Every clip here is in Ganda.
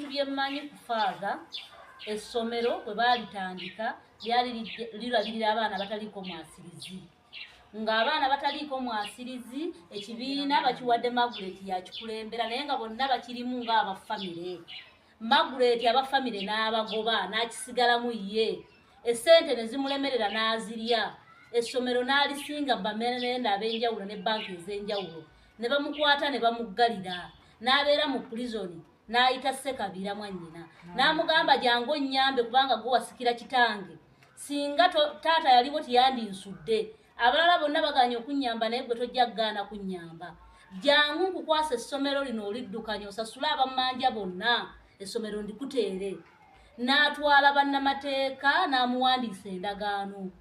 ebintu bye mmanyi ku faaza essomero bwe baalitandika lyali lirabirira abaana bataliiko mwasirizi ng'abaana bataliiko mwasirizi ekibiina bakiwadde maguleti yakikulembera naye nga bonna bakirimu ng'aba famire maguleti aba famire n'abagoba n'akisigalamu ye essente ne zimulemerera n'azirya essomero n'alisinga bamenenda ab'enjawulo ne banka ez'enjawulo ne bamukwata ne bamuggalira n'abeera mu pulizoni n'ayita ssekabiira mwannyina n'amugamba jangu onnyambe kubanga gwe wasikira kitange singa taata yaliwo teyandinsudde abalala bonna baganye okunnyamba naye gwe tojja kugaana kunnyamba jangu nkukwasa essomero lino oliddukanya osasule abamanja bonna essomero ndikuteere n'atwala bannamateeka n'amuwandiisa endagaano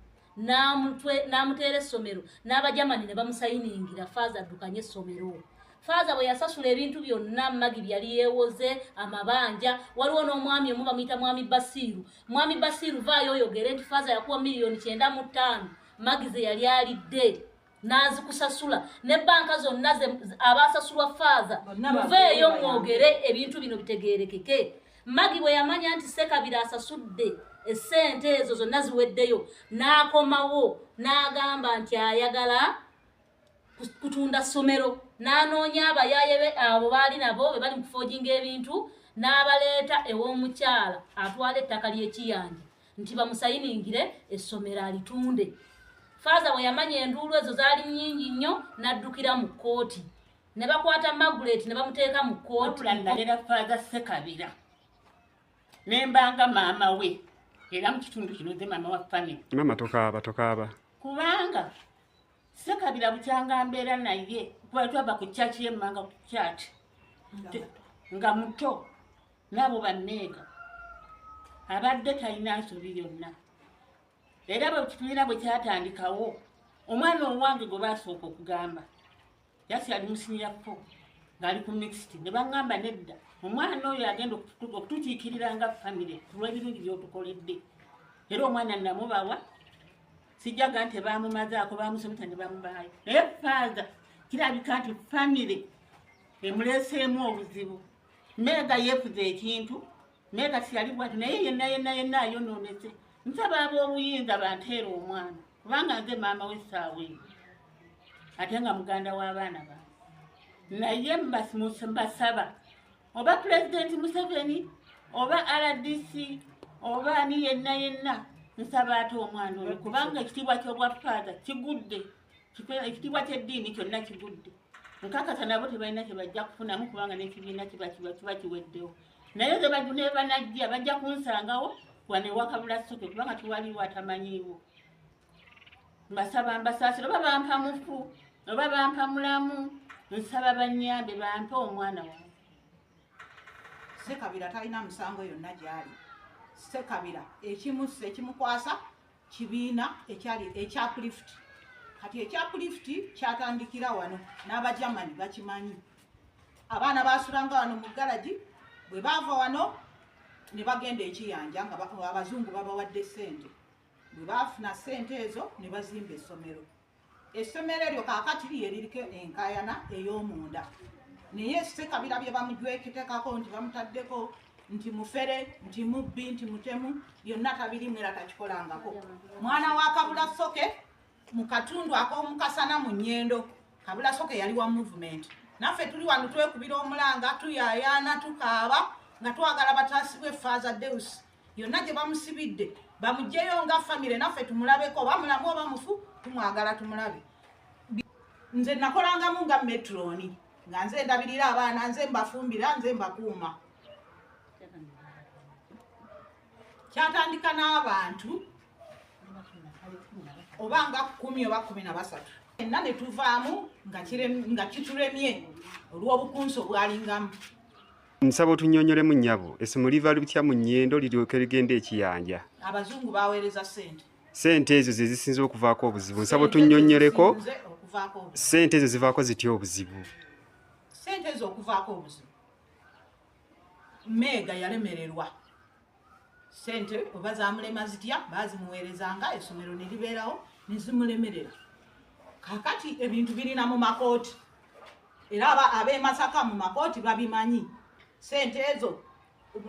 n'amuteera essomero n'abajamani ne bamusayiningira faaza addukanye essomero faaza bwe yasasula ebintu byonna magi byali yeewoze amabanja waliwo n'omwami omu bamuyita mwami basiiru mwami basiiru vaayo oyogere nti faaza yakuwa miliyoni kyenda mu ttaano magi ze yali alidde n'azikusasula ne bbanka zonna abaasasulwa faaza muveeyo mwogere ebintu bino bitegeerekeke magi bwe yamanya nti sekabira asasudde essente ezo zonna ziweddeyo n'akomawo n'agamba nti ayagala kutunda ssomero n'anoonya abayaaye be abo baali nabo be bali mu kufoojinga ebintu n'abaleeta ew'omukyala atwala ettaka ly'ekiyanja nti bamusayiningire essomero alitunde faaza bwe yamanya enduulu ezo zaali nnyingi nnyo n'addukira mu kkooti ne bakwata magulet ne bamuteeka mu kkootinaera faaza sekabira ne mbanga maama we era mu kitundu kino ze maama wa famiy maama tokaaba tokaaba kubanga sekabira bukyanga mbeera naye kuba twava ku kyaki yemmanga ku kyaki nga muto nabo banneega abadde talina nsobi yonna era bwe kibiina bwe kyatandikawo omwana owange gwe baasooka okugamba yasi ali musiniya fo ng'ali ku mixit ne baŋŋamba nedda omwana oyo agenda okutukiikirira nga famire ku lw'ebirungi by'otukoledde era omwana namubawa sijjaga nti baamumazaako baamusomesa ne bamubaayo naye faaza kirabika nti famire emuleeseemu obuzibu meega yefuza ekintu meega siyali bwati naye yenna yenna yenna ayonoonese nsaba ab'obuyinza banteera omwana kubanga nze maama w'essaawa eyo ate nga muganda w'abaana ba naye mbasaba oba pulezidenti museveni oba rdc oba ani yenna yenna nsaba ate omwana oyo kubanga ekitiibwa ky'obwa faaza kigudde ekitiibwa ky'eddiini kyonna kigudde nkakasa nabo tebalina kyebajja kufunamu kubanga n'ekibiina kiba kiweddewo naye nebanajja bajja kunsangawo wanewakabula soke kubanga tiwaliwo atamanyiiwo mbasaba mbasaasira oba bampa mufu oba bampa mulamu nsaba banyambe bampe omwana wange sekabira talina musango yonna gyali sekabira ekimusa ekimukwasa kibiina ekyali ekyapulifuti kati ekyapulifuti kyatandikira wano n'abajamani bakimanyi abaana basulanga wano mu galagi bwe baava wano ne bagenda ekiyanja nga abazungu babawadde ssente bwe baafuna ssente ezo ne bazimba essomero essomero eryo kakati lyeririko enkayana ey'omunda naye sekabira bye bamujwekitekako nti bamutaddeko nti mufere nti mubbi nti mutemu byonna tabirimu era takikolangako mwana wa kabula soke mu katundu ak'omukasana mu nyendo kabula soke yali wa movement naffe tuli wano twekubira omulanga tuyayaana tukaaba nga twagala bataasibwe faaza deus yonna gye bamusibidde bamugyeyo nga famire naffe tumulabeko oba mulamu oba mufu tumwagala tumulabe nze nakolangamu nga metroni nga nze ndabirira abaana nze mbafumbira nze mbakuuma kyatandika n'abantu oba nga kumi oba kumi na basatu enna ne tuvaamu nga kituremye olw'obukunsi obwalingamu Nsaba otunyonyolemu nyabo esimu liva lutya mu nyendo liryoke ligende ekiyanja. Abazungu baweereza sente. Sente ezo ze zisinze okuvaako obuzibu. Nsaba otunyonyoleko sente ezo zivaako zitya obuzibu. Sente ezo okuvaako obuzibu. Meega yalemererwa. sente oba zamulema zitya bazimuweerezanga esomero ne libeerawo ne zimulemerera kakati ebintu birina mu makooti era ab'emasaka mu makooti babimanyi sente ezo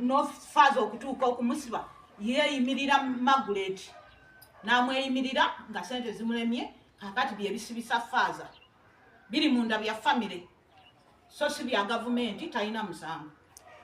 nofaaza okutuuka okumusiba yeeyimirira maguleti n'amweyimirira nga sente zimulemye kakati bye bisibisa faaza biri munda bya famire so si bya gavumenti talina musango